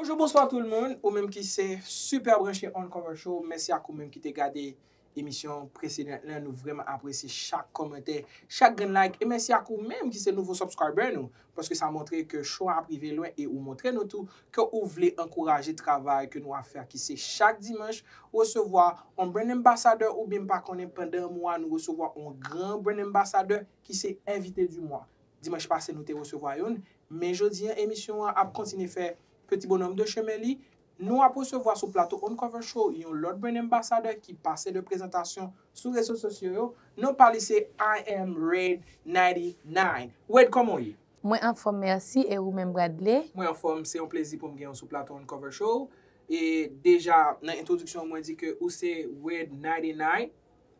Bonjou bonswa tout moun, ou menm ki se super branche on cover show, mèsi ak ou menm ki te gade Emisyon presedant lan nou vrèman apresye chak kòmantè, chak grenn like e mèsi ak ou menm ki se nouvo subscriber nou paske sa montre ke show a ap rive lwen e ou montre nou tou ke ou vle ankouraje travay ke nou ap fè a ki se chak dimanch resevwa on Brand Ambassador oubyen m pa konnen pandan mwa nou resevwa on gran Brand Ambassador ki se Invité du Mois. Dimanch pase nou te resevwa youn men jodi an emisyon an ap kontinye fè Petit Bonhomme de chemin li. Nou ap resevwa sou plato Uncover Show yon lòt Brand Ambassador ki pase lè prezantasyon sou rezo sosyo yo, non pa li se I am Red 99. Wade kòman w ye? Mwen anfòm mèsi e ou menm Bradley? Mwen anfòm, se yon plezi pou m gen ou sou plato Uncover Show. E deja nan entwodiksyon mwen di ke ou se Red 99.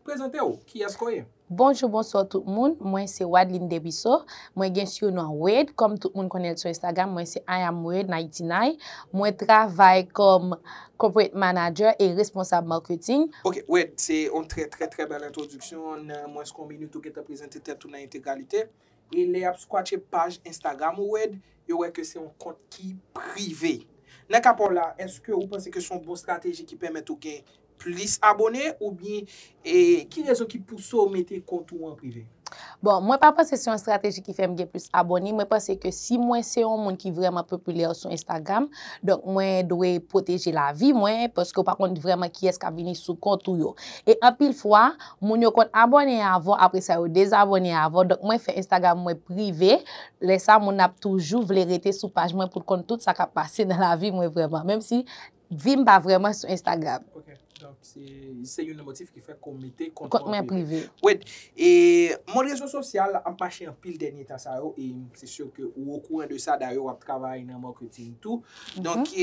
Prezante w, kiyèske w ye? Bonjou bonswa tout moun mwen se Wadeline Desruisseaux mwen gen surnom Wade kòm tout moun konnen l sou Instagram mwen se I am Wade 99 mwen travay kòm Corporate Manager e responsab marketing. Ok Wade, se yon trè trè trè bèl entwodiksyon, nan mwens ke yon minit ou gentan prezante tèt ou nan entegralite. E lè yap squatche paj Instagram ou ed, yo wè ke se yon kont ki prive. Nan ka paw la, eske ou panse ke se yon bon strateji ki pèmèt ou gen plis abone oubyen e ki rezon ki pouse w mete kont ou an prive? Bon, mwen pa panse se yon strateji ki fèm gen plis abone, mwen panse ke si mwen se yon moun ki vrèman popilè sou Instagram, donk mwen dwe pwoteje lavi mwen, paske ou pa konn vrèman kiyès kap vini sou kont ou yo. E anpil fwa, Moun yo konn abòne avw apre sa yo dezabòne avw donk mwen fè Instagram mwen prive lè sa moun ap toujou vle rete sou paj mwen poul konn tout sa kap pase nan lavi mwen vrèman menm si vim pa vrèman sou Instagram. Ok donk se youn nan motif ki fè ke w mete kont ou an prive. Wed, e mond rezo sosyal ap mache anpil dènye tan sa yo e m se sur ke ou okouran de sa dayè wap travay nan marketing tou donk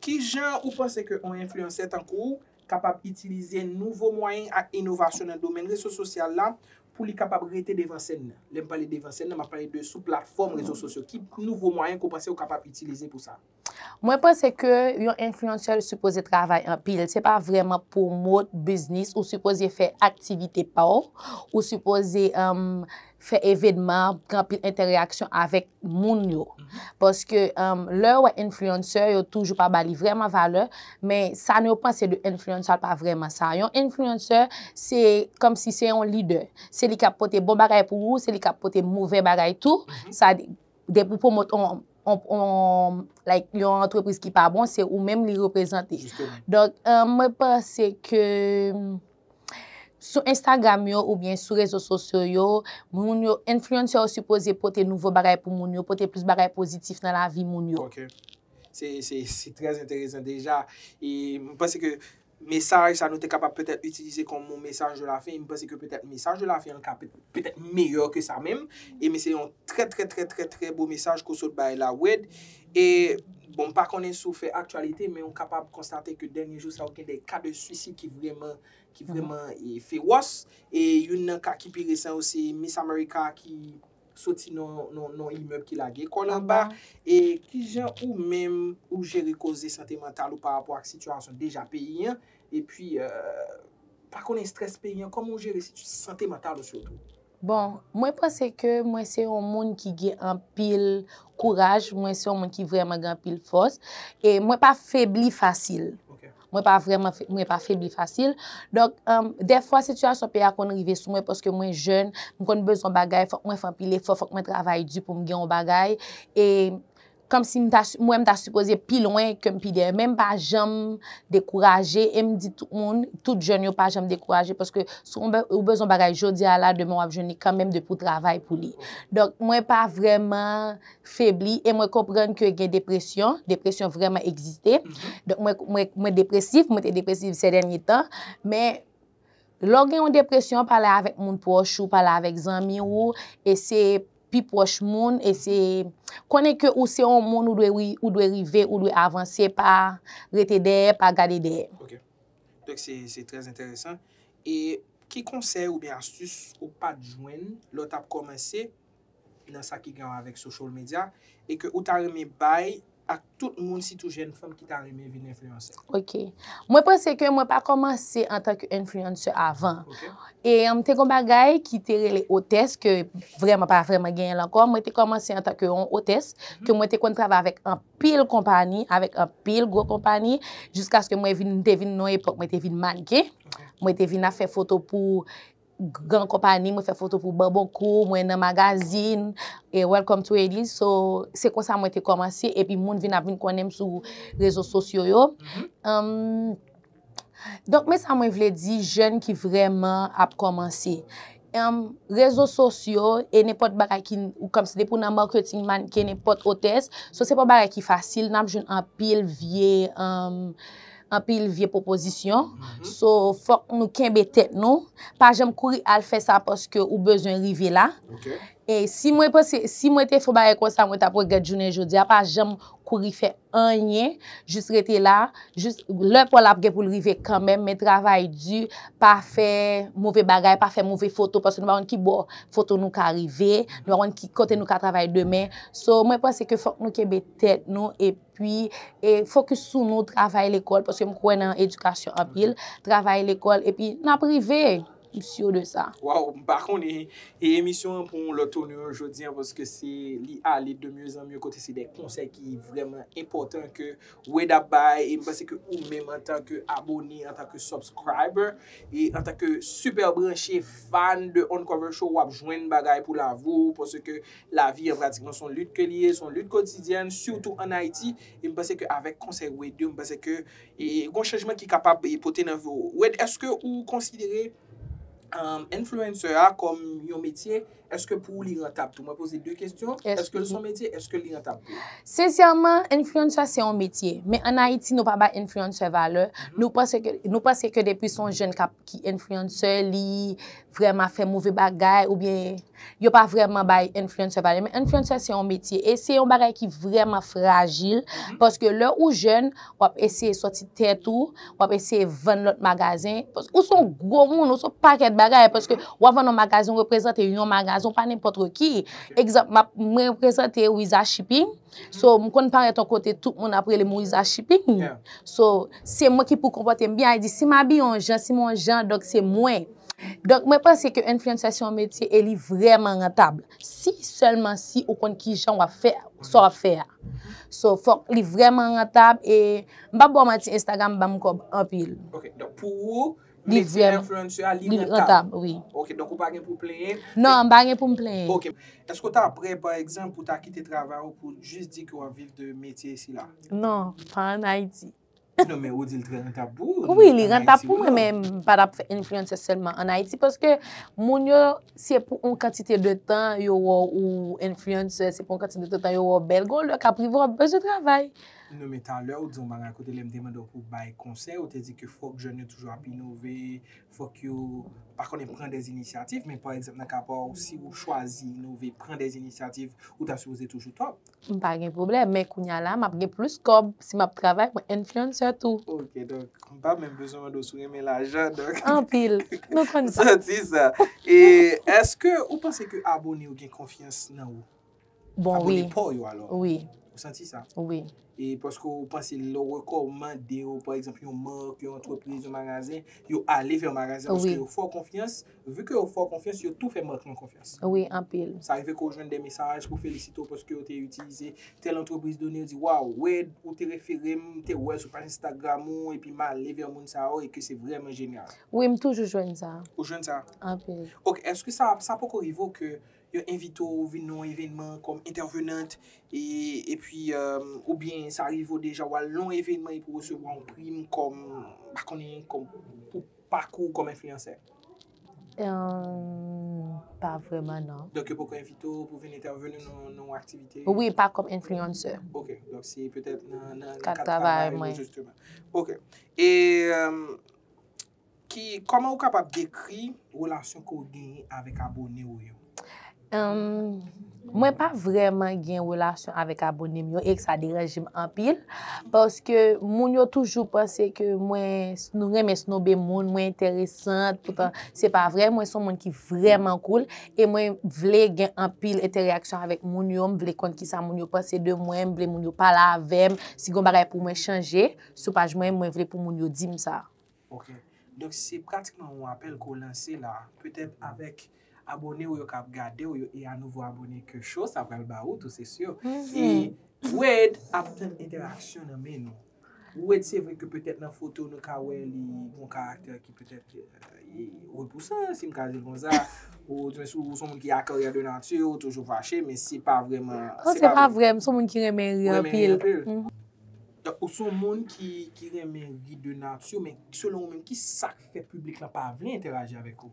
kijan ou panse ke on enfliyansè tankou w kapab itilize nouvo mwayen ak inovasyon nan domèn reso sosyal la pou li kapab rete devan sèn nan. Lè m pale devan sèn nan, m ap pale de sou platfòm rezo sosyo. Ki nouvo mwayen ke w panse ou kapab itilize pou sa? Mwen panse ke yon enfliyansè li sipoze travay anpil. Se pa vrèman pwomot biznis, ou sipoze fè aktivite pa w, ou sipoze fè evenman, gen anpil entèreyaksyon avèk moun yo. Paske lè yo wè enfliyansè, yo toujou pa ba li vrèman valè, men sa nou yo panse de enfliyansè pa vrèman sa. Yon enfliyansè, se kòm si se yon lidè. Se li k ap pote bon bagay pou ou, se li k ap pote movè bagay tou. Sa di, depi ou pwomot yon, like, yon antrepriz ki pa bon, se ou menm li reprezante. Donk, mwen panse ke. Sou Instagram yo oubyen sou rezo sosyo yo, moun yo, influencer yo sipoze pote nouvo bagay pou moun yo, pote plis bagay pozitif nan lavi moun yo. Ok. Se, se, se trè enteresan deja. E m panse ke mesaj sa nou te kapab petèt itilize kòm yon mesaj de la fen, e m panse ke petèt mesaj de la fen an ka petèt meyè ke sa menm. E men se yon trè trè trè trè trè bo mesaj ke w sot bay la Wed. E, bon m pa konnen si w fè aktyalite men ou kapab konstate ke dènye jou sa yo gen de ka de swisid ki vrèman, ki vrèman fewòs. E youn nan ka ki pi resan yo se Miss America ki soti nan yon imèb ki lage kò l anba. E kijan ou menm ou jere koze sante mantal ou pa rapò ak sitiyasyon deja peyi an? Epi, pa konnen estrès peyi an, kòman ou jere sante mantal ou sitou? Bon, mwen panse ke mwen se yon moun ki gen anpil kouraj, mwen se yon moun ki vreman gen anpil fòs, e mwen pa febli fasil. Mwen pa vreman, mwen pa febli fasil. Donk, defwa sitiyasyon peyi a konn rive sou mwen paske mwen jèn, mwen konn bezwen bagay, fòk mwen fè anpil efò, fòk mwen travay di pou m gen yon bagay. Kòmsi m ta m wè m ta sipoze pi lwen ke m pi dèyè. Men m pa janm dekouraje e m di tout moun, tout jèn yo pa janm dekouraje paske si ou bezwen yon bagay jodi a la demen w ap jwenn li kanmenm depi ou travay pou li. Donk mwen pa vrèman febli e mwen konprann ke gen depresyon, depresyon vrèman egziste. Donk mwen depresif, mwen te depresif sè dènye tan men. Lè w gen yon depresyon, pale avèk moun pwòch ou, pale avèk zanmi ou, eseye pi pwòch moun, eseye konnen ke ou se yon moun ou dwe ou dwe rive, ou dwe avanse pa rete dèyè, pa gade dèyè. Ok. Donk se se trè enteresan. E ki konsèy oubyen astis ou pat jwenn lè w tap kòmanse? nan sa ki gen wè avèk social media e ke ou ta renmen bay ak tout moun sitou jèn fanm ki ta renmen vin influencer? Ok. Mwen panse ke mwen pa komanse antan ke influencer avan. Ok. E m te gen yon bagay ki te rele otès ke vreman pa vreman genyen l ankò. Mwen te komanse antan ke yon otès ke mwen te konn travay avèk anpil konpani, avèk anpil gwo konpani jiskaske mwen vin, m te vin nan yon epòk mwen te vin mannequin. Ok. Mwen te vin ap fè foto pou. gran konpani mwen fè foto pou bonbon kou mwen nan magazin e welcome to Haiti so se konsa mwen te komanse epi moun vin ap vin konnen m sou rezo sosyo yo donk men sa mwen vle di jèn ki vreman ap komanse rezo sosyo e nepot bagay ki kom se depi w nan marketing mannequin nepot otès so se pa bagay ki fasil nap jwenn anpil vye anpil vye pwopozisyon, so fòk nou kenbe tèt nou, pa janm kouri al fè sa paske ou bezwen rive la, e si mwen panse, si mwen te fon bagay konsa mwen tap regrèt jounen jodi a, pa janm kouri fè anyen, jis rete la, jis, lè paw la ap gen poul rive kanmenm, men travay di, pa fè move bagay, pa fè move foto, paske nou pa konn ki bò foto nou ka rive, nou pa konn ki kote nou ka travay demen, so mwen panse ke fòk nou kenbe tèt nou, e. Pwi, e fokis sou nou, travay lekòl, paske m kwè nan edikasyon anpil, travay lekòl, epi n ap rive, m sur de sa. Waw m pa konnen e emisyon an pran yon lòt tournure jodi an paske se li ale de mieux en mieux kote se de konsèy ki vrèman enpòtan ke Wade ap bay e m panse ke ou menm antan ke abone antan ke subscriber e antan ke super branche fan de Uncover Show w ap jwenn bagay pou lavi w paske Lavi an pratikman son lit ke li ye, son lit kotidyèn, sitou an Ayiti, e m panse ke avèk konsèy Wade yo, m panse ke gon chanjman ki kapab pote nan vi w. Wade, èske ou konsidere influencer a kòm yon metye? Èske pou ou li rantab tou? Mwen poze 2 kestyon, èske l son metye, èske li rantab tou? Sensèman, influencer se yon metye, men an Ayiti nou pa bay influencer valè, nou panse ke depi son jèn ki influencer li. vrèman fè move bagay ou byen yo pa vrèman bay influencer valè men influencer se yon metye e se yon bagay ki vrèman frajil paske lè ou jèn wap eseye soti tèt ou wap eseye vann lòt magazen ou se yon gwo moun ou se yon pakèt bagay paske wap vann yon magazen ou reprezante yon magazen ou pa nenpòtre ki egzanp mwen reprezante Wiza Shipping So, m konn parèt yon kote tout moun ap rele m Riza Shipping. So, se mwen ki pou konpòte m byen. Ay di, si m abiye yon jan, si m yon jan, donk se mwen. Donk mwen panse ke influencer se yon metye e li vrèman rantab. Si sèlman si ou konn ki jan w ap fè sa w ap fè a. So, fòk li vrèman rantab e m p ap ba w manti Instagram ban m kòb anpil. Ok, donk pou ou. Li vrèman. Mete influencer a li rentab. Li rentab wi. Ok donk ou pa gen pou plenyen. Non m pa gen pou m plenyen. Ok. Eske ou ta prè pa egzanp pou ta kite travay ou pou jis di ke wap viv de metye sila? Non, pa an Ayiti. Non men ou di li trè rentab pou ou. Wi li rentab pou mwen men m pa tap fè influencer sèlman an Ayiti paske moun yo se pou yon kantite de tan yo wè w ou influencer se pou yon kantite de tan yo wè w bèl gon lè kap rive wap bezwen travay. Non men talè ou di yon bagay kote lè m te mande w pou w bay konsèy ou te di ke fòk jèn yo toujou ap inove, fòk yo pa konnen pran dè inisyativ men pa egzanp nan ka pa w si ou chwazi inove, pran dè inisyativ ou ta sipoze toujou top. M pa gen pwoblèm men kounya la m ap gen plis kòb si m ap travay mwen influencer tou. Ok donk m pa menm bezwen mande w si w renmen lajan donk. Anpil. Nou konn sa. M santi sa. E eske ou panse ke abone yo gen konfyans nan ou? Bon wi. Abone paw yo alò. Wi. Ou santi sa? Wi. E paske ou panse lè ou rekòmande yo pa egzanp yon mark, yon antrepriz, yon magazen, yo ale vè magazen paske yo fè w konfyans, vi ke yo fè w konfyans, yo tou fè mark lan konfyans. Wi, anpil. Sa rive ke w jwenn de mesaj pou felisite w paske yo te itilize tèl antrepriz done, yo di waw, Wade, ou te refere m, m te wè l sou paj Instagram ou, epi m ale vè moun sa yo e ke se vrèman jenyal. Wi, m toujou jwenn sa. Ou jwenn sa? Anpil. Ok, eske sa, sa poko rive w ke Yo envite w vin nan yon evenman kòm entèvenant epi oubyen sa rive w deja w al nan yon evenman epi w resevwa yon prim kòm, m pa konnen, kòm pou pakou w kòm enfliyansè? Emm, pa vrèman nan. Donk yo poko envite w pou vin entèveni nan yon aktivite? Wi, pa kòm enfliyansè. Ok, donk se petèt nan kad travay mwen. Kad travay mwen. Jisteman. Ok. E Ki, kòman ou kapab dekri relasyon ke ou genyen avèk abone ou yo? Humm, mwen pa vrèman gen relasyon avèk abone m yo e sa deranje m anpil, paske moun yo toujou panse ke mwen renmen snobe moun, mwen enteresant, poutan se pa vre, mwen son moun ki vrèman koul, e mwen vle gen anpil entereyaksyon avèk moun yo, m vle konn ki sa moun yo panse de mwen, m vle moun yo pale avè m, si gen yon bagay pou mwen chanje, sou paj mwen, mwen vle pou moun yo di m sa. Ok. Donk se pratikman yon apèl ke w lanse la, petèt avèk abone w yo k ap gade w yo e a nouvo abone ke show sa pral ba ou tou se si. E Wade ap tann entèraksyon nan men nou. Wade se vre ke petèt nan foto nou ka wè li yon karaktè ki petèt li repousan, si m ka di l konsa, ou se yon moun ki a koleryè de nati, ou toujou fache, men se pa vreman. Non se pa vrè, m se yon moun ki renmen ri anpil. Donk ou son moun ki ki renmen ri de nature men selon ou menm kisak fè piblik lan pa vle entèraji avèk ou?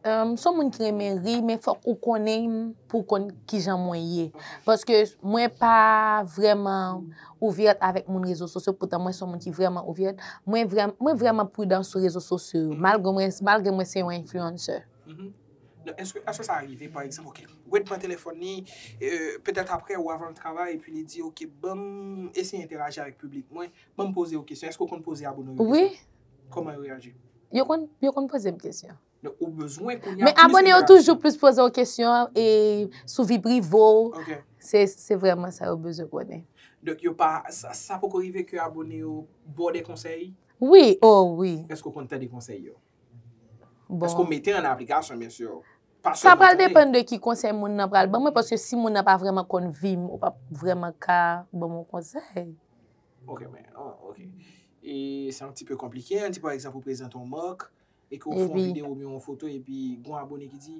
M son moun ki renmen ri men fòk ou konnen m pou w konn kijan mwen ye. Paske mwen pa vrèman ouverte avèk moun rezo sosyo poutan mwen son moun ki vrèman ouverte. Mwen vrèman pridan sou rezo sosyo yo malgre mwen se yon influencer. Non eske eske sa rive pa egzanp ok Wade pran telefòn li petèt aprè ou avan l travay epi li di ok banm eseye enteraji avèk piblik mwen banm poze yo kesyon eske ou konn poze abone w yo kesyon kòman yo reyaji yo konn yo konn poze m kesyon donk ou bezwen kounya plis men abone yo toujou plis poze w kesyon e sou vi prive w ok se se vrèman sa yo bezwen konnen donk yo pa sa poko rive ke abone yo ba w de konsèy wi o wi eske ou konn tande konsèy yo. Eske w mete an aplikasyon mesye yo? Sa pral depann de ki konsèy moun nan pral ban mwen paske si moun nan pa vrèman konn vi m ou pap vrèman ka ban m yon konsèy. Ok men, ok. E se yon ti pe konplike an di pa egzanp ou prezante yon mark e ke w fè yon video oubyen yon foto epi gon abone ki di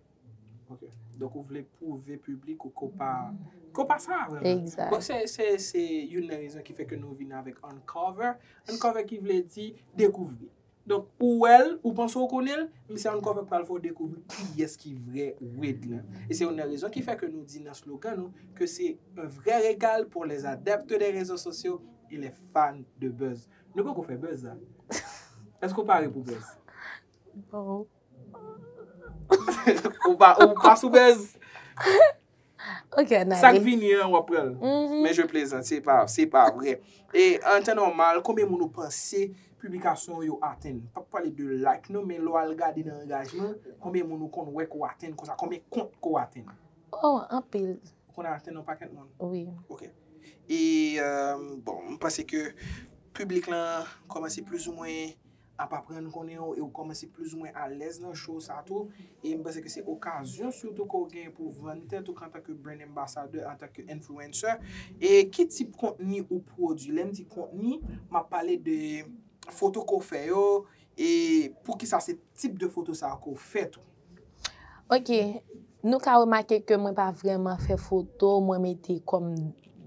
Ok, donk ou vle pwouve piblik ou ke w pa, ke w pa sa vre menm. Egzat. Bon, se, se, se youn nan rezon ki fè ke nou vin avèk uncover. Uncover ki vle di dekouvri. Donk, ou wè l, ou panse w konnen l, men se uncover ki pral fè w dekouvri kiyès ki vrè Wid lan. E se youn nan rezon ki fè ke nou di nan slogan nou ke se un vrai regal pour les adeptes des réseaux sociaux et les fans de buzz. Nou poko fè buzz la. Èske w pare pou buzz? Bon. Ou pa sou bèz? Ok, anale. Sa k vini an, w ap pran l. Men je plezant, se pa, se pa vre. E, an tan nòmal, konbyen moun ou panse piblikasyon ou yo atenn? M pa p pale de like non, men lè w al gade nan angajman, konbyen moun ou konn wè ke w atenn konsa? Konbyen kont ke w atenn? O, anpil. Ou konn atenn yon pakèt moun? Wi. Ok. E, bon, m panse ke piblik lan kòmanse plizoumwen ap aprann konnen ou e ou kòmanse plizoumwen alèz nan show sa tou e m panse ke se okazyon sitou ke w genyen pou w vann tèt ou antanke brand ambassador, antanke influencer e ki tip kontni ou pwodwi, lè m di kontni m ap pale de foto ke w fè yo e poukisa se tip de foto sa ke w fè tou. Ok, nou ka remake ke mwen pa vreman fè foto mwen mete kòm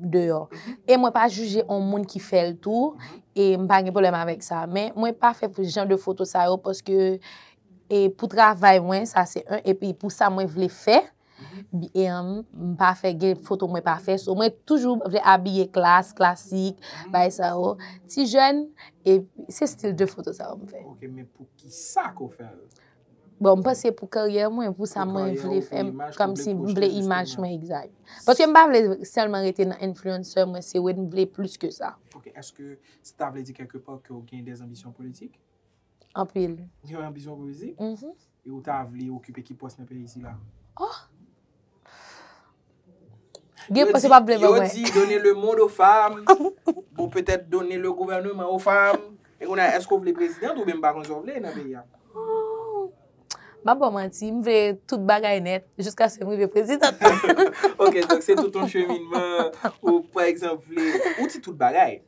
deyò. E mwen pa jije yon moun ki fè l tou, e m pa gen pwoblèm avèk sa. Men, mwen pa fè pou jan de foto sa yo, paske e pou travay mwen, sa se yon, e pi pou sa mwen vle fè, e m pa fè gen foto mwen pa fè. So, mwen toujou vle abiye klas, klasik, bay sa yo. Ti jèn, e se stil de foto sa yo m fè. Ok, men pou ki sa ke w fè l? Bon, m panse pou karyè mwen, pou sa mwen vle fè, kòmsi m vle imaj mwen egzay. Paske m pa vle sèlman rete nan influencer mwen se wen m vle plis ke sa. Ok, eske sa ta vle di kèlke pò ke w gen dè anbisyon politik? Anpil. Gen anbisyon politik? Mh. E ou ta vle okipe ki pòs nan peyi sila? Oh! Gen pwese pa ble ban mwen. Yo di done le monde aux femmes. Bon peut-être done le gouvernement aux femmes. E konn a eske ou vle president ou byen m pa konn sa ou vle nan peyi a. Map baw manti, m vle tout bagay nèt jiskaske m rive president. Ok, donk se tout yon cheminman ou pa egzanp vle. Ou di tout bagay.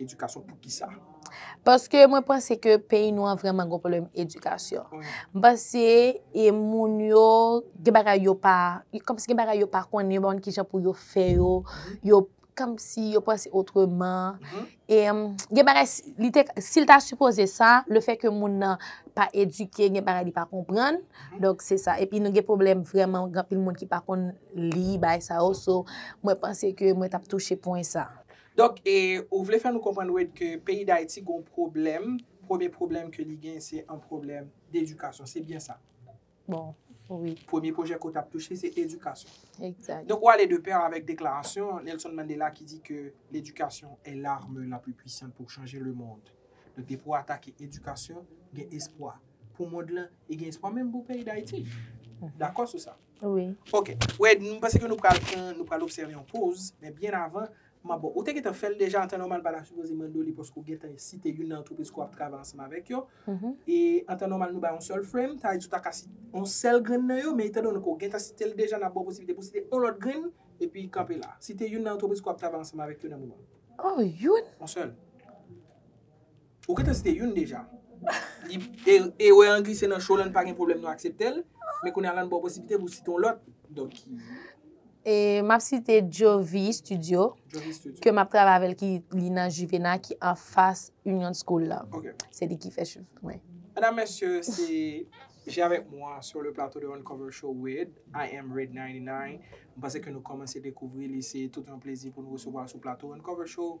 Edikasyon pou ki sa? Paske mwen panse ke peyi nou an vreman gwo pwoblèm edikasyon. Mwen panse e moun yo, gen bagay yo pa, kom si gen bagay yo pa konnen, yo pa konnen ki jan pou yo fè yo, yo, kom si yo panse otreman. E gen bagay, li te, si li ta sipoze sa, le fè ke moun nan pa edike, gen bagay li pa konprann, donk se sa. E pi nou gen pwoblèm vreman, gen anpil moun ki pa konnen li, bay sa yo, so mwen panse ke mwen tap touche pwen sa. Donk e ou vle fè nou konprann Wade ke peyi Dayiti gon pwoblèm, premye pwoblèm ke li gen se on pwoblèm d'edikasyon, se byen sa? Bon, wi. Premye pwojè ke ou t'ap touche se edikasyon. Ekzat. Donk ou ale de pè avèk deklarasyon Nelson Mandela ki di ke l'education est l'arme la plus puissante pour changer le monde. Donk depi ou atake edikasyon, gen espwa pou mond lan e gen espwa menm pou peyi Dayiti. Dakò sou sa? Wi. Ok, Wade, m panse ke nou pral pran, nou pral obsève yon poz, men byen avan, m ap bon, ou te gentan fè l deja, an tan nòmal m pa ta sipoze mande w li paske ou gentan site youn nan antrepriz ke w ap travay ansanm avèk yo, e an tan nòmal nou bay yon sèl frame, sa vle di ou ta ka site yon sèl grenn nan yo, men etan done ke w gentan site l deja, n ap ba w posiblite pou w site yon lòt grenn, epi kanpe la. Site youn nan antrepriz ke w ap travay ansanm avèk yo nan moman. Oh, youn? Yon sèl. Ou gentan site youn deja. Erè an glise nan cho lan pa gen pwoblèm nou akseptel, men kounye a lan baw posiblite pou site yon lòt. Donk ki. E map site Jovy studio. Jovy studio. Ke map travay avèl ki li nan Juvena ki anfas Union school la. Ok. Se li ki fè cheve mwen. Medam mesye se Je avèk mwa sur le plateau de Uncover Show with I am Red 99. M panse ke nou kòmanse dekouvri li se tout yon plezi pou nou resevwa l sou plato Uncover Show.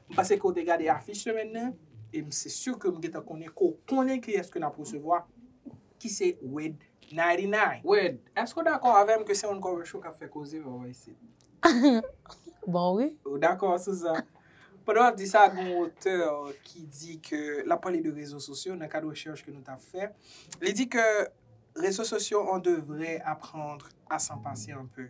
M panse ke w te gade afich semèn nan, e m se sur ke m gentan konnen ke w konnen kiyès ke n ap resevwa, ki se Wed 99. Wed, èske w dakò avè m ke se yon cover show k ap fè koze vè w isit? Bon wi. Ou dakò sou sa? Pandan w ap di sa, gen yon otè ki di ke, l ap pale de rezo sosyo nan kad rechèch ke nou t ap fè, li di ke rezo sosyo on devrait apprendre à s'en passer un peu.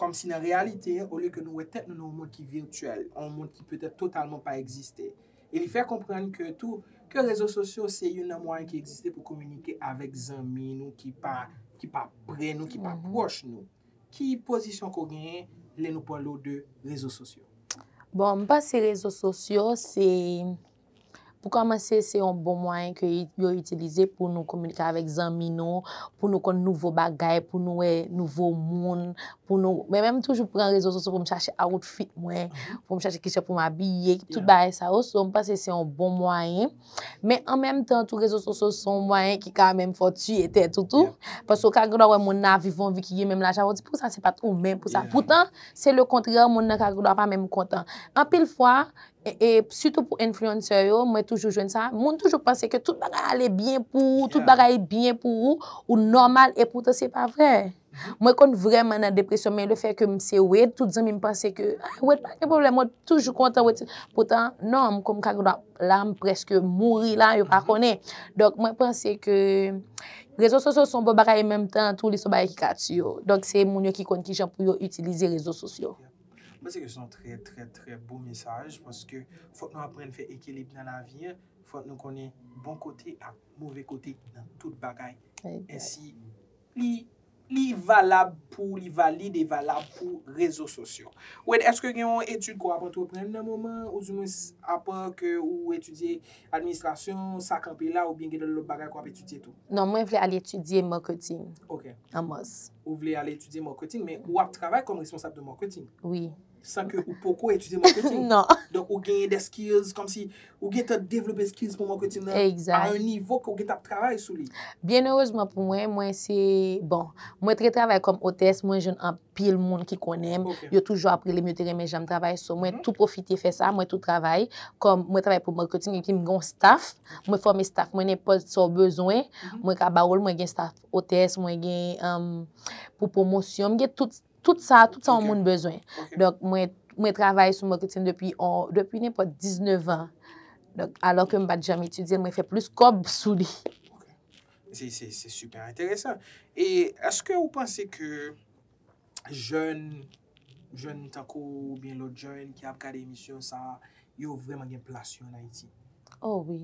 Kòmsi nan reyalite, olye ke nou wè tèt nou nan yon mond ki virtyèl, yon mond ki petèt totalman pa egziste. E li fè konprann ke tou, ke rezo sosyo se youn nan mwayen ki egziste pou kominike avèk zanmi nou ki pa, ki pa pre nou, ki pa pwòch nou. Ki pozisyon ke w genyen lè nou pale w de rezo sosyo? Bon, m panse rezo sosyo se Pou kòmanse, se yon bon mwayen ke yo itilize pou nou kominike avèk zanmi nou, pou nou konn nouvo bagay, pou nou wè nouvo moun, pou nou... Mwen menm toujou pran rezo sosyo pou m chache awotfit mwen, pou m chache ki jan pou m abiye, tout bagay sa yo. So, m panse se yon bon mwayen. Men, an menm tan tou, rezo sosyo se yon mwayen ki ka menm fè w tiye tèt ou tou. Paske ou ka gen dwa wè moun nan ap viv yon vi ki gen menm lajan avè w, ou di pou sa se pa t ou menm pou sa. Poutan, se lekontrè, moun nan ka gen dwa pa menm kontan. Anpil fwa. E sitou pou influencer yo, mwen toujou jwenn sa, moun toujou panse ke tout bagay ale byen pou ou, tout bagay byen pou ou, ou nòmal e poutan se pa vre. Mwen konn vrèman nan depresyon men le fè ke m se wed, tout zanmi m panse ke, ah wed pa gen pwoblèm, wed toujou kontan, wed se, poutan non, m konn m ka gen dwa la m preske mouri la, yo pa konnen. Donk mwen panse ke rezo sosyo son bon bagay e menm tan tou li son bagay ki ka tiye w. Donk se moun yo ki konn kijan pou yo itilize rezo sosyo. M panse ke se yon trè trè trè bon mesaj paske fòk nou aprann fè ekilib nan lavi an, fòk nou konnen bon kote ak move kote nan tout bagay ensi li li valab pou li valid e valab pou rezo sosyo. Wade èske gen yon etid ke w ap antreprann nan moman ou di mwens apa ke ou etidye Administration sa kanpe la oubyen gen lòt bagay ke wap etidye tou? Non mwen vle al etidye marketing an mas. Ou vle al etidye marketing men ou ap travay kòm responsab de marketing? Wi. San ke ou poko etidye marketing? Non. Donk ou genyen des skills kòm si ou gentan devlope skills pou marketing nan a un nivo ke ou gentan ap travay sou li? Byen erezman pou mwen, mwen se bon mwen te travay kòm otès mwen jwenn anpil. anpil moun ki konnen m, yo toujou ap rele m, yo te renmen jan m travay, so mwen tou pwofite fè sa, mwen tou travay, kòm mwen travay pou marketing epi m gen yon staff, mwen fòme staff mwen nenpòt sa w bezwen, mwen ka ba w l, mwen gen staff otès, mwen gen pou pwomosyon, m gen tout, tout sa, tout sa yon moun bezwen. Donk mwen, mwen travay sou marketing depi, depi nenpòt 19 an, donk alò ke m pa t janm etidye l, mwen fè plis kòb sou li. Se super enteresan. E eske ou panse ke jèn, jèn tankou ou byen lòt jèn ki ap gade emisyon sa, yo vreman gen plas yo an Ayiti? O wi.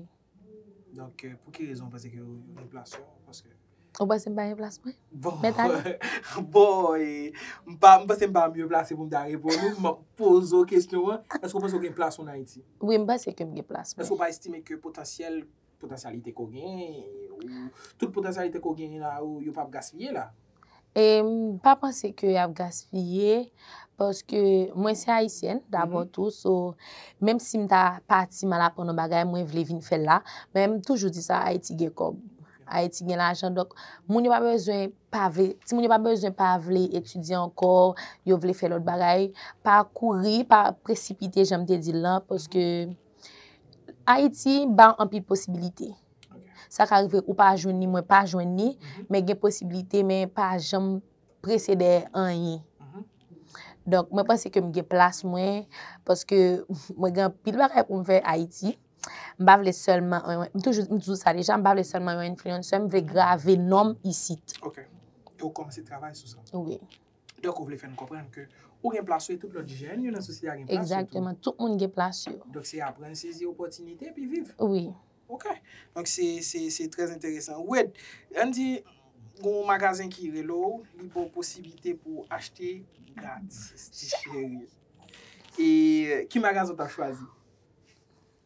Donk pou ki rezon ou panse ke yo gen plas yo? Paske. Ou panse m pa gen plas mwen? Bon. Mèt ale. Bon e, m pa, m panse m pa mye plase pou m ta reponn ou, m ap poze ou kesyon an, eske ou panse ou gen plas ou an Ayiti? Wi, m panse ke m gen plas mwen. Eske ou pa estime ke potansyèl Potansyalite ke w genyen, tout potansyalite ke w genyen la yo, yo pa ap gaspiye la? Em pa panse ke y ap gaspiye, paske mwen se Ayisyèn dabò tou, so menm si m ta pati m al aprann yon bagay, mwen vle vin fè l la. Men m toujou di sa, Ayiti gen kòb, Ayiti gen lajan, donk moun yo pa bezwen pa vle, timoun yo pa bezwen pa vle etidye ankò, yo vle fè lòt bagay, pa kouri, pa presipite jan m te di l lan, paske. Ayiti ba w anpil posibilite. Sa ka rive ou pa jwenn ni mwen pa jwenn ni, mhm. men gen posibilite men pa janm prese dè anyen. Mhm. Donk mwen panse ke m gen plas mwen, paske mwen gen pil bagay pou m fè Ayiti. M ba vle selman, m toujou sa deja, m ba vle selman yon influencer, m vle grave nom isit. Ok, e ou komanse travay sou sa? Oui. Donk ou vle fè n konprann ke ou gen plas ou e tout lòt jèn yo nan sosyete a gen plas yo tou. Egzakteman, tout moun gen plas yo. Donk se aprann sezi opòtinite epi viv. Wi. Ok. Donk se trè enteresan. Wid, ann di gen yon magazen ki rele w, li ba w posiblite pou w achte gratis ti cheri. E ki magazen w ta chwazi?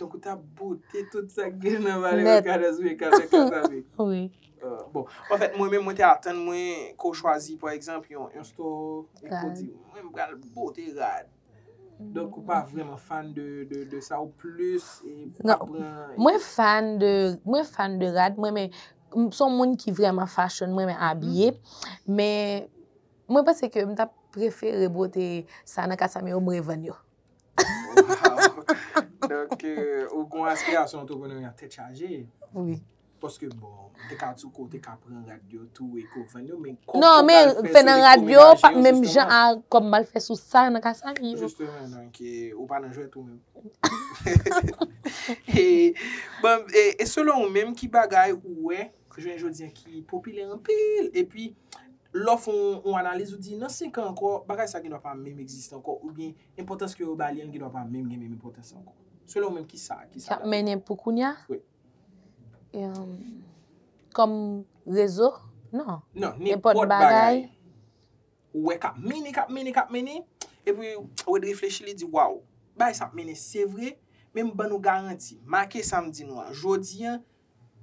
Donk ou ta bote tout sa k gen nan vale Rockaders vin kal nan Kay Papi? Wi. Bon, anfèt mwen menm mwen te atann mwen ke w chwazi pa egzanp yon store epi w di mwen m pral bote rad. Donk ou pa vrèman fan de sa ou plis pa pran. Mwen fan de, mwen fan de rad, mwen renmen, m son moun ki vrèman fashion, mwen renmen abiye, men mwen panse ke m ta prefere bote sa nan Kay Papi yo m revann yo. Waww Donk ou gon aspirasyon antreprenerya tèt chaje Wi Paske bon ou te ka sou kou ou te ka pran rad yo tou e kou vann yo men kòm ou pral fè sou elektwomenaje yo jisteman Non men fè nan rad yo pa menm jan a kòm m al fè sou sa nan kasay yo Jisteman donk ou pa nan jwèt ou menm Eee Bon e selon ou menm ki bagay ou wè jounen jodi an ki popilè anpil epi lè w fè yon analiz ou di nan 5 an ankò bagay sa gendwa pa menm egziste ankò oubyen enpòtans ke yo ba li an gendwa pa menm gen menm enpòtans ankò. Selon ou menm ki sa ki sa. K ap mennen pou kounya? Wi. Kòm rezo? Non. Non, nenpòt bagay ou wè k ap mennen, k ap mennen, k ap mennen epi Wade reflechi li di waw bagay sa ap mennen se vre men m ban nou garanti make sa m di nou an jodi an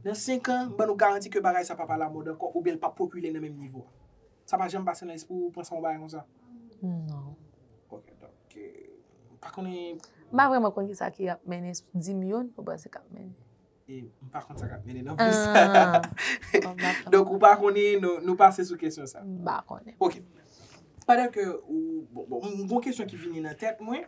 Nan 5 an, m ban nou garanti ke bagay sa pap alamòd ankò oubyen l pap popilè nan menm nivo a. Sa pa janm pase nan lespri w ou panse a yon bagay konsa? Non. Ok, donk, m pa konnen. M pa vrèman konn kisa ki ap mennen, di m youn ou panse k ap mennen. E, m pa konn sa k ap mennen non plis. Ah. Donk ou pa konnen, nou pase sou kesyon sa. M pa konnen. Ok. Pandan ke ou, bon, m gen yon kesyon ki vini nan tèt mwen,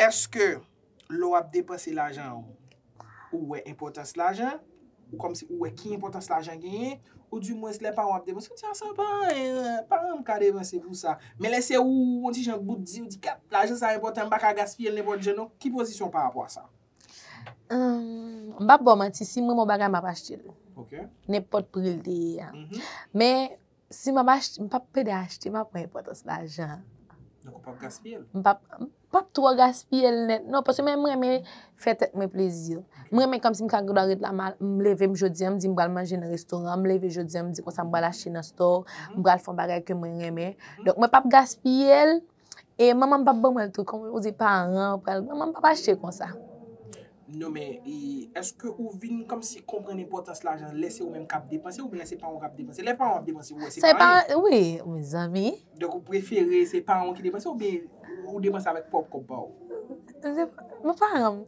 Èske lè w ap depanse lajan w, ou wè enpòtans lajan? Ou kòmsi ou wè ki enpòtans lajan genyen? Ou di mwens lè paran w ap depanse, ou di a sa pa anyen, paran m ka depanse pou sa. Men lè se ou, on ti jan bout di, ou di kat, lajan sa enpòtan, m pa ka gaspiye l nenpòt jan non. Ki pozisyon w parapò a sa? M p ap ba w manti, si m renmen yon bagay, m ap achte l. Ok. Nenpòt pri l te ye a. Men. Si map achte, m pap pede achte, map wè enpòtans lajan an. Donk ou pap gaspiye l? M pap, m pap twò gaspiye l nèt non, paske mwen renmen fè tèt mwen plezi. Mwen renmen kòmsi m ta gen dwa ret la, m leve m jodi an, m di m pral manje nan restoran, m leve jodi an m di konsa m pral achte nan store, m pral fè yon bagay ke mwen renmen. Donk mwen pap gaspiye l. E manman m pap ban mwen l tou. Kòm ou di paran ou pral. Manman m pap achte konsa. Non men, e eske ou vin kòmsi konprann enpòtans lajan lè se ou menm k ap depanse oubyen lè se paran w k ap depanse? Lè paran w ap depanse ou wè se pa anyen. Se pa, wi, mezanmi. Donk ou prefere se paran w ki depanse oubyen ou depanse avèk pwòp kòb pa ou? Mwen paran m.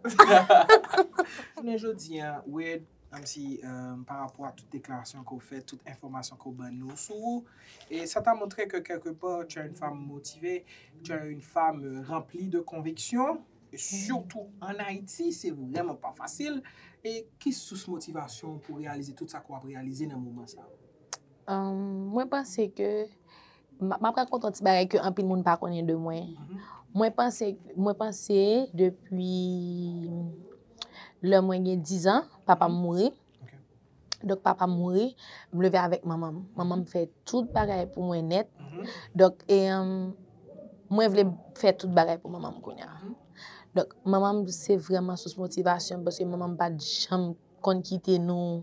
Jounen jodi a, Wed, Menm si pa rapò a tout deklarasyon ke w fè, tout enfòmasyon ke w ban nou sou ou, e sa ta montre ke kèlke pò tu as une femme motivée, tu as une femme remplie de conviction, sitou an Ayiti se vrèman pa fasil, e ki sous motivasyon w pou reyalize tout sa ke w ap reyalize nan moman sa? Mwen panse ke M ap rakonte yon ti bagay ke anpil moun pa konnen de mwen. Mwen panse, mwen panse depi lè mwen gen dizan, papa m mouri. Donk papa m mouri, m leve avèk manman m. Manman m fè tout bagay pou mwen nèt. Donk e mwen vle fè tout bagay pou manman m kounye a. Donk manman m se vreman sous motivasyon m paske manman m pa t janm konn kite nou.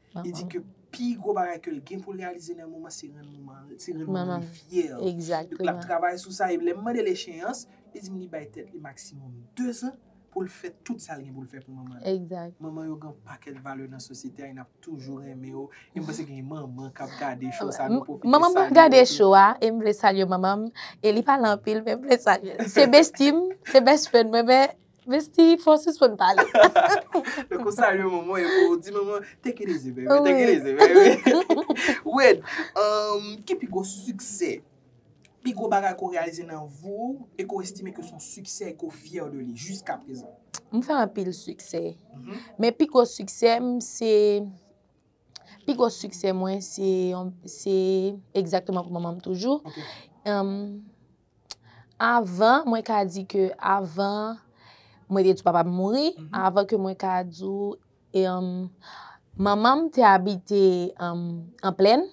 Li di ke pi gwo bagay ke l gen pou l reyalize nan yon moman se rann moman l, se rann manman l fyè. Donk l ap travay sou sa e lè m mande l echeyans, li di m li bay tèt li maksimòm dezan pou l fè tout sa l gen pou l fè pou manman l. Manman yo gen yon pakèt valè nan sosyete a e n ap toujou renmen yo. E m panse gen manman k ap gade cho sa, nou pwofite salye yo tou. Manman m ap gade cho a e m vle salye manman m. E li pale anpil men m vle salye l. Se bestie m, se best friend mwen men. Vesti fò sispann pale. Lè kon sa yon manman e pou di manman take it easy baby, take it easy baby. Wade, ki pi gwo siksè, pi gwo bagay ke w reyalize nan vi w e ke w estime ke se yon siksè e ke w fyè de li jiska prezan? M fè anpil siksè. Men pi gwo siksè m se, pi gwo siksè mwen se, se egzakteman pou manman m toujou. Avan mwen ka di ke avan mwen te di papa m mouri, avan ke mwen ka di ou, manman m te abite an plèn,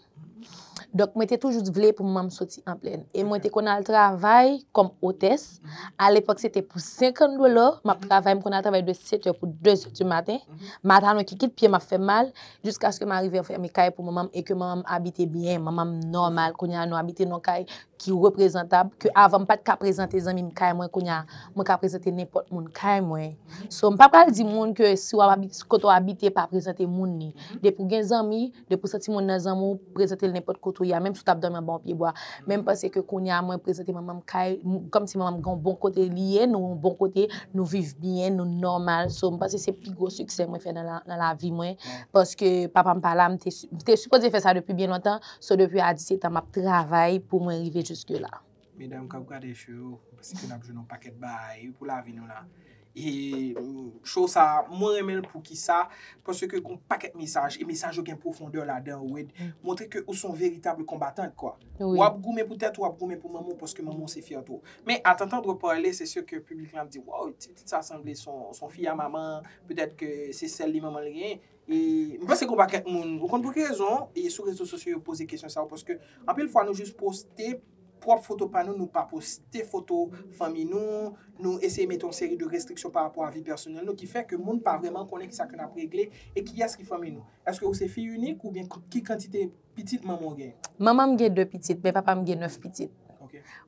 donk mwen te toujou vle pou manman m soti an plèn. E mwen te konn al travay kòm otès, alepòk se te pou 50 dola, m ap travay, m konn al travay de 7 è pou 2 è di maten, matalon ki kit pye m ap fè mal, jiskaske m arive fèmen kay pou manman m e ke manman m abite byen, manman m nòmal, kounye a nou abite nan kay. ki reprezantab ke avan m pat ka prezante zanmi m kay mwen kounya mwen ka prezante nenpòt moun kay mwen so m pa pral di moun ke si wap abite kote w abite pa prezante moun ni depi w gen zanmi depi w santi moun nan zanmi w prezante l nenpòt kote w ye a menm si w tap dòmi anba yon pye bwa men m panse ke kounya mwen prezante manman m kay kòmsi manman m gen yon bon kote li ye nou yon bon kote nou viv byen nou nòmal so m panse se pi gwo siksè mwen fè nan lavi mwen paske papa m pa la m te sipoze fè sa depi byen lontan. So depi a 17 an map travay pou mwen rive juske la. Medam kap gade show yo, se ke nap jwenn yon paket baay pou lavi nou la. E show sa, mwen renmen l pou kisa, paske ke gon paket mesaj, e mesaj yo gen profondeur ladan ou ed, montre ke ou son veritable combattant kwa. Wap goumen pou tet ou, wap goumen pou manman ou, paske manman ou se fyerte ou. Men a tantandre parle, se sur ke public lan ap di, waww, ti pitit sa sanble son fille à maman, peut-être ke se sel li manman l genyen. E m panse gen yon pakèt moun, ou konn pou ki rezon, e sou rezo sosyo yo poze kesyon sa yo paske anpil fwa nou jis poste pwòp foto pa nou, nou pa poste foto fanmi nou, nou eseye mete yon seri de restriksyon pa rapò a vi pèsonèl nou ki fè ke moun pa vrèman konnen ki sa ke n ap regle e kiyès ki fanmi nou. Èske ou se fi inik oubyen ki kantite pitit manman w gen? Manman m gen 2 pitit, men papa m gen 9 pitit.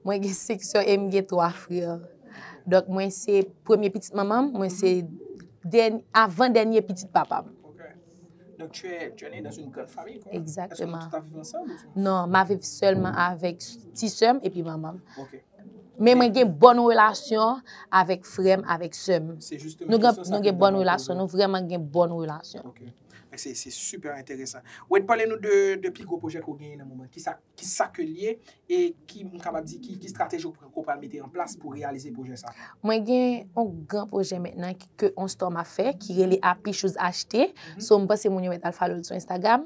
Mwen gen 5 sè e m gen 3 frè. Donk mwen se premye pitit manman m, mwen se avan dènye pitit papa m. Donk tu es né dans une grande famille? Exactement. Est-ce que vous vivez ensemble? Non, ma viv sèlman avèk ti sè m epi manman m. Ok. Men mwen gen bòn relasyon avèk frè m, avèk sè m. Se juste. Nou gen bòn relasyon, nou vrèman gen bòn relasyon. Ok. Mwen se se super enteresan. Wed pale nou de de pi gwo pwojè ke w genyen nan moman. Kisa kisa ke l ye e ki m kapab di ki ki strateji ou ke w pral mete an plas pou reyalize pwojè sa? Mwen gen yon gran pwojè mentnan ke yon store m ap fè ki rele Happy Shoes HT. So m panse moun yo mèt al follow l sou Instagram.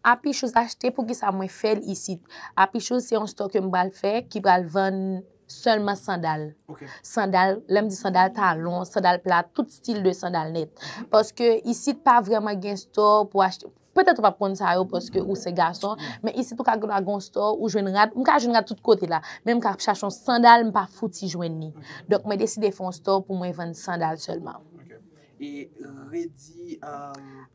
Happy Shoes HT poukisa mwen fè l isit? Happy Shoes se yon store ke m pral fè ki pral vann Sèlman sandal. Ok. Sandal, lè m di sandal, talon, sandal pla, tout stil de sandal nèt. Paske isit pa vrèman gen stò pou achte. Petèt ou pa p konn sa yo paske ou se gason, men isit ou ka gen yon stò, ou jwenn rad. M ka jwenn rad tout kote la, men m ka ap chache yon sandal, m pa fouti jwenn ni. Donk mwen deside fè yon stò pou mwen vann sandal sèlman. Ok. E Redi,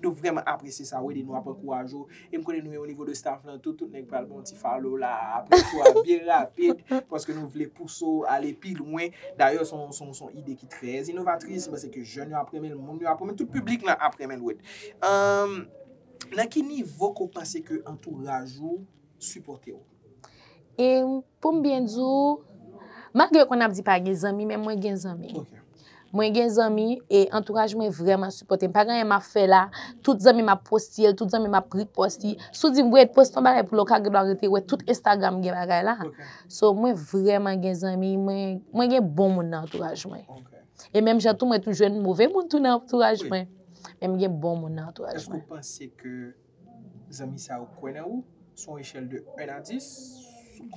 Nou vrèman apresye sa ou ede nou ap ankouraje w e m konnen nou e o nivo de staff lan tou tout nèg pral ba w ti follow la aprè show a byen rapid paske nou vle pouse w ale pi lwen dayè s on s on ide ki trè inovatris m panse ke jèn yo ap renmen l moun yo ap renmen l tout piblik lan ap renmen l wid nan ki nivo ke w panse ke antouraj ou sipòte w. E poum byen di w, malgre konn ap di pa gen zanmi men mwen gen zanmi. Mwen gen zanmi e antouraj mwen vreman sipote m. Pa gen anyen map fe la, tout zanmi m ap poste l, tout zanmi m ap repost li. Si w di m Wade poste yon bagay pou l la ou ka gen dwa rete we tout Instagram gen bagay la. So mwen vreman gen zanmi, mwen gen bon moun nan antouraj mwen. E menm jan tou mwen tou jwenn move moun tou nan antouraj mwen. Men m gen bon moun nan antouraj mwen. Zanmi sa yo kwè nan ou, sou yon echèl de 1 a 10,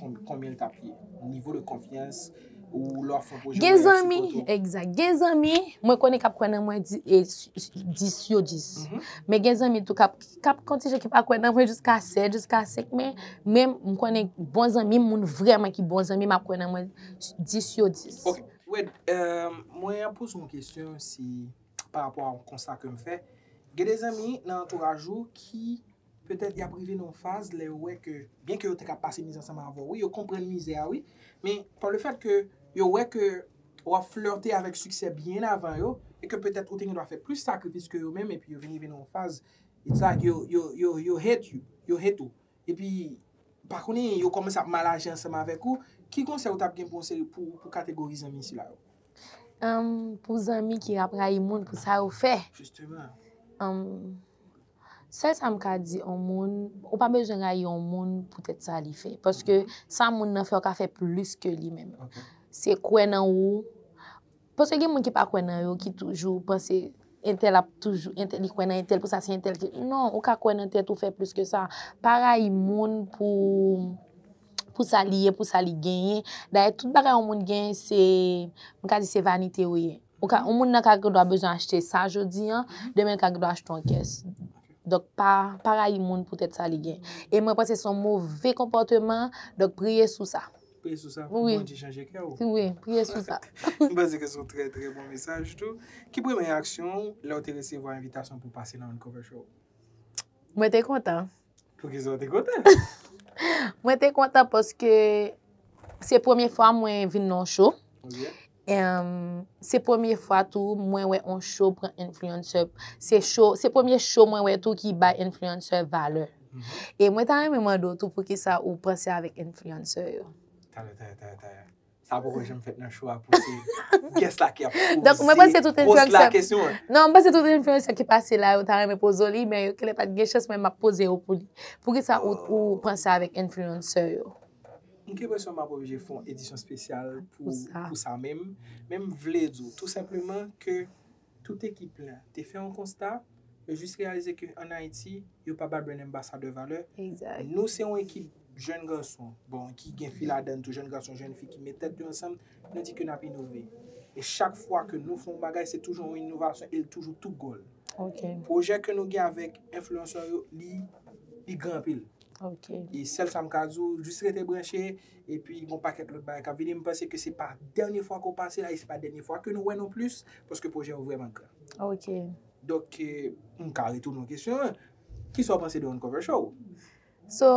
konbyen l t ap ye? Nivo de konfyans ou lè w ap fè yon pwojè mariaj sou kont ou? Egzat. Gen zanmi, mwen konnen k ap kwè nan mwen 10 yo 10. Men gen zanmi tou k ap kontinye ki pa kwè nan mwen jiska 7, jiska 5. Men, menm, m konnen bon zanmi m, moun vrèman ki bon zanmi m ap kwè nan mwen 10 yo 10. Ok. Wed, mwen ap poze yon kesyon si. pa rapò a yon konsta ke m fè, gen de zanmi nan antouraj ou ki petèt y ap rive nan yon faz lè yo wè ke, byen ke yo te ka pase mizè ansanm avè w wi, yo konprann mizè a wi, men pa le fèt ke yo wè ke w ap flirte avèk siksè byen avan yo, e ke petèt ou te gen dwa fè plis sakrifis ke yo menm, epi yo vin rive nan yon faz, it's like yo hate you, yo hate ou, epi pa konnen yo kòmanse ap mal aji ansanm avèk ou, ki konsèy ou t ap gen pou yon seri pou pou kategori zanmi sila yo? Humm pou zanmi ki ap rayi moun pou sa yo fè Jisteman. humm sèl sa m ka di yon moun ou pa bezwen rayi yon moun poutèt sa li fè paske sa moun nan fè ou ka fè plis ke li menm se kwè nan ou Paske gen moun ki pa kwè nan yo ki toujou panse entèl ap toujou entèl li kwè nan entèl pou sa se entèl ki non ou ka kwè nan tèt ou fè plis ke sa pa rayi moun pou pou sa li ye pou sa li genyen dayè tout bagay yon moun genyen se m ka di se vanite ou ye ou ka yon moun nan ka gen dwa bezwen achte sa jodi an demen l ka gen dwa achte yon kès donk pa pa rayi moun pou tèt sa li genyen e mwen panse se yon move konpòteman donk priye sou sa. Priye sou sa pou Bondye chanje kè ou. Wi, priye sou sa. M panse ke se yon trè trè bon mesaj tou. Ki premye reyaksyon ou lè ou te resevwa envitasyon pou pase nan Uncover Show? Mwen te kontan. Poukisa ou te kontan? Mwen te kontan paske se premye fwa mwen vin nan yon show. Se premye fwa tou mwen wè on show pran influencer se show se premye show mwen wè tou ki bay influencer valè e mwen ta renmen mande w tou poukisa ou panse avèk influencer yo. Tayè tayè tayè tayè sa poko janm fèt nan show a pou se guest la ki ap poze Donk mwen panse tout influencer host la kesyon an. Non mwen panse tout influencer ki pase la yo ta renmen poze w li men yo genlè pat gen chans men map poze yo pou li poukisa ou panse avèk influencer yo. M gen presyon m ap oblije fè yon edisyon spesyal pou sa men m vle di w tou senpleman ke tout ekip la te fè yon konsta yo jis reyalize ke an Ayiti yo pa ba Brand Anbasadè valè nou se yon ekip jèn gason bon ki gen fi ladann tou jèn gason jèn fi ki met tèt yo ansanm nou di ke n ap inove e chak fwa ke nou fè yon bagay se toujou yon inovasyon e l toujou tou gòl pwojè ke nou gen avèk enfliyansè yo li gran anpil. Ok. E sèl sa m ka di w, jis rete branche, epi gon pakèt lòt bagay k ap vini. M panse ke se pa dènye fwa ke w pase la, e se pa dènye fwa ke nou wè non plis, paske pwojè yo vrèman gran. Ok. Donk, m ka retounen w kesyon an, kisa w panse de Uncover Show? So,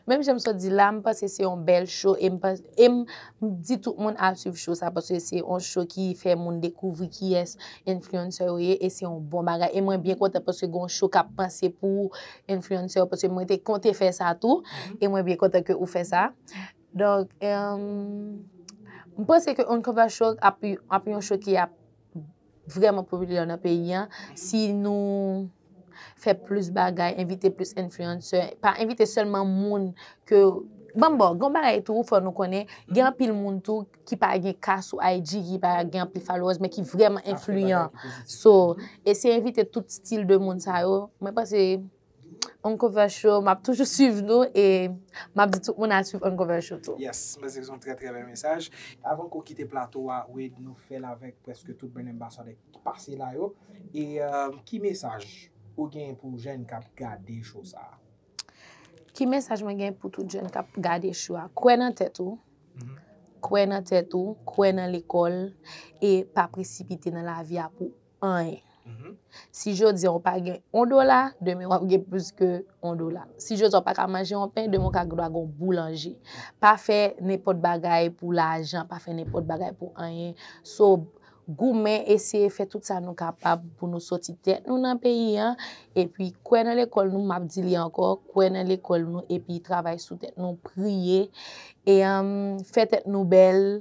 menm jan m sot di la, m panse se yon bèl show, e m panse. E m di tout moun al swiv show sa paske se yon show ki fè moun dekouvri kiyès influencer yo ye e se yon bon bagay. E mwen byen kontan paske gen yon show k ap panse pou influencer yo paske mwen te konte fè sa tou e mwen byen kontan ke ou fè sa. Donk, m panse ke Uncover Show ap yon show ki ap. vrèman popilè nan peyi an, si nou fè plis bagay, envite plis enfliyansè, pa envite sèlman moun ke, banm bo, gon bagay tou fò nou konnen, gen anpil moun tou ki pa gen ka sou IG, ki pa gen anpil followers, men ki vrèman enfliyan. So, eseye envite tout stil de moun sa yo, mwen panse. Uncover show map toujou swiv nou e map di tout moun al swiv Uncover show tou. Yes mwen se son trè trè bèl mesaj. Avan ke w kite plato wa Wade nou fèl avèk prèske tout Brand Ambassador ki pase la yo e ki mesaj ou gen pou jèn kap gade show sa. Ki mesaj mwen gen pou tout jèn kap gade show a kwè nan tèt ou kwè nan tèt ou kwè nan lekòl e pa presipite nan lavi a pou anyen. Si jodi a ou pa gen yon dola, demen wap gen plis ke yon dola. Si jodi a ou pa ka manje yon pen, demen ou ka gen dwa gen yon boulanje. Pa fè nenpòt bagay pou lajan, pa fè nenpòt bagay pou anyen. So, goumen eseye fè tout sa nou kapab pou nou soti tèt nou nan peyi an. E pi kwè nan lekòl nou, map di li ankò, kwè nan lekòl nou e pi travay sou tèt nou, priye. E fè tèt nou bèl,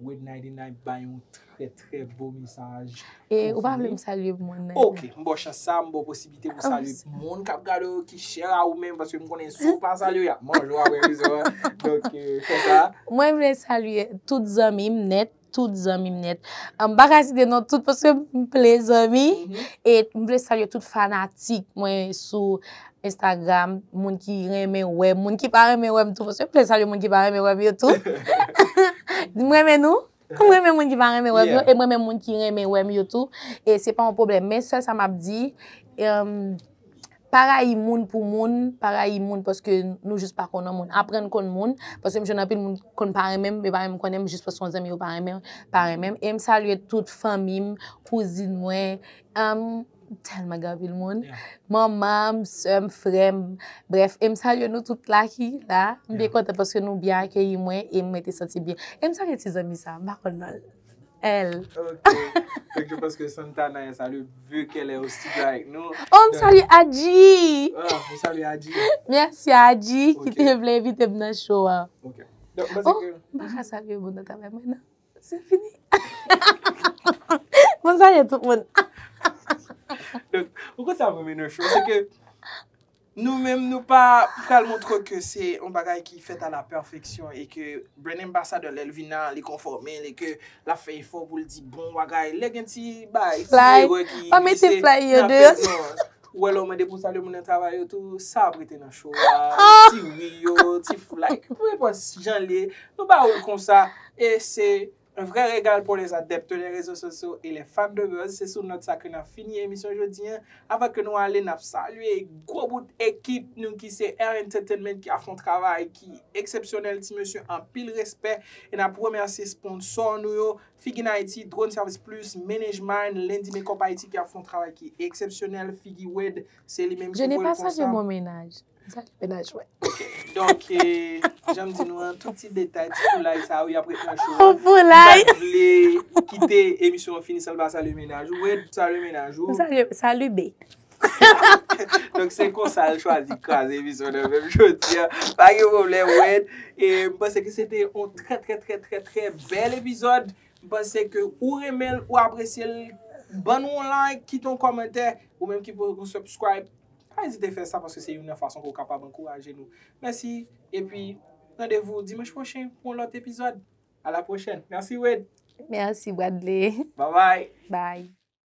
Wednayde Night bay yon trè trè beau mesaj. E ou pa vle m salye moun nan. Ok, m ba w chans sa, m ba w posiblite pou salye moun k ap gade w yo ki chè a ou menm paske m konnen si w pa salye yo y ap manje w aprè emisyon an. Donk fè sa. Mwen vle salye tout zanmi m nèt, tout zanmi m nèt. M pa ka site non tout paske m ple zanmi. E m vle salye tout fanatik mwen sou Instagram, moun ki renmen wèm, moun ki pa renmen wèm tou, paske m te salye moun ki pa renmen wèm yo tou. M renmen nou, m renmen moun ki pa renmen wèm yo, e m renmen moun ki renmen wèm yo tou. E se pa yon pwoblèm, men sèl sa m ap di, pa rayi moun pou moun, pa rayi moun paske nou jis pa konnen moun. Aprann konn moun, paske m jwenn anpil moun ki konn pa renmen m, yo pa menm konnen m, jis paske se yon zanmi yo pa renmen m. E m salye tout fanmi m, kouzin mwen. M tèlman gen anpil moun. Manman m, sè m, frè m. Brèf, e m salye nou tout la ki la. M byen kontan paske nou byen akeyi mwen e mwen te santi byen. E m salye ti zanmi sa a, m pa konn non l. L. Ok. Thank you paske Santana est à l'oeuvre vu qu'elle est au studio avec nous. Oh, m salye Adjie! Oh, ou salye Adjie? Mèsi a Adjie ki te vle envite m nan show an. Ok. Oh, m pa ka salye moun nan travay mwen nan. Se fini. Mwen salye tout moun. Ou konn sa mwen renmen nan show se ke nou menm nou pa pral montre ke se yon bagay ki fèt a la pèfeksyon e ke Brand Ambassador lè l vin la li konfòme l e ke l ap fè efò pou l di bon bagay. Lè gen ti bagay, ti erè ki glise, n ap fè non. Ou wè lè ou mande pou salye moun nan travay yo tou, sa ap rete nan show a, ti ri yo, ti flay, peu importe jan l ye, nou ba ou l konsa, e se un vrai regal pour les adeptes des réseaux sociaux et les fans de buzz, se sou nòt sa ke n ap fini emisyon jodi an, avan ke nou ale n ap salye gwo bout ekip nou ki se R Entertainment ki ap fè yon travay ki eksepsyonèl ti mesye anpil respè, e n ap remèsye sponsò nou yo Figin Haiti, Drone Service Plus, Manage Mine, Lundi Makeup Haiti ki ap fè yon travay ki eksepsyonèl, figi Wade se li menm ki voye l konsa. Je n'ai pas salué mon ménage. Sa ki menaj mwen? Ok, donk jan m di nou an, tout ti detay, ti foulay sa yo y ap ret nan show an. Foulay! M pa t vle kite emisyon an fini san m pa salué menaj ou. Wade, salué menaj ou. M salué, salut bee. Donk se konsa l chwazi kraze emisyon an menm jodi an. Pa gen pwoblèm Wed. E m panse ke se te yon trè trè trè trè trè bèl epizòd. M panse ke ou renmen l, ou apresye l. Ban nou yon like, kite yon kòmantè. Ou menm ki poko subscribe, pa ezite fè sa paske se youn nan fason ke w kapab ankouraje nou. Mèsi. Epi, randevou dimanch pwochen pou yon lòt epizòd. A la pwochèn. Mèsi Wed. Mèsi Wadley. Babay. Bay.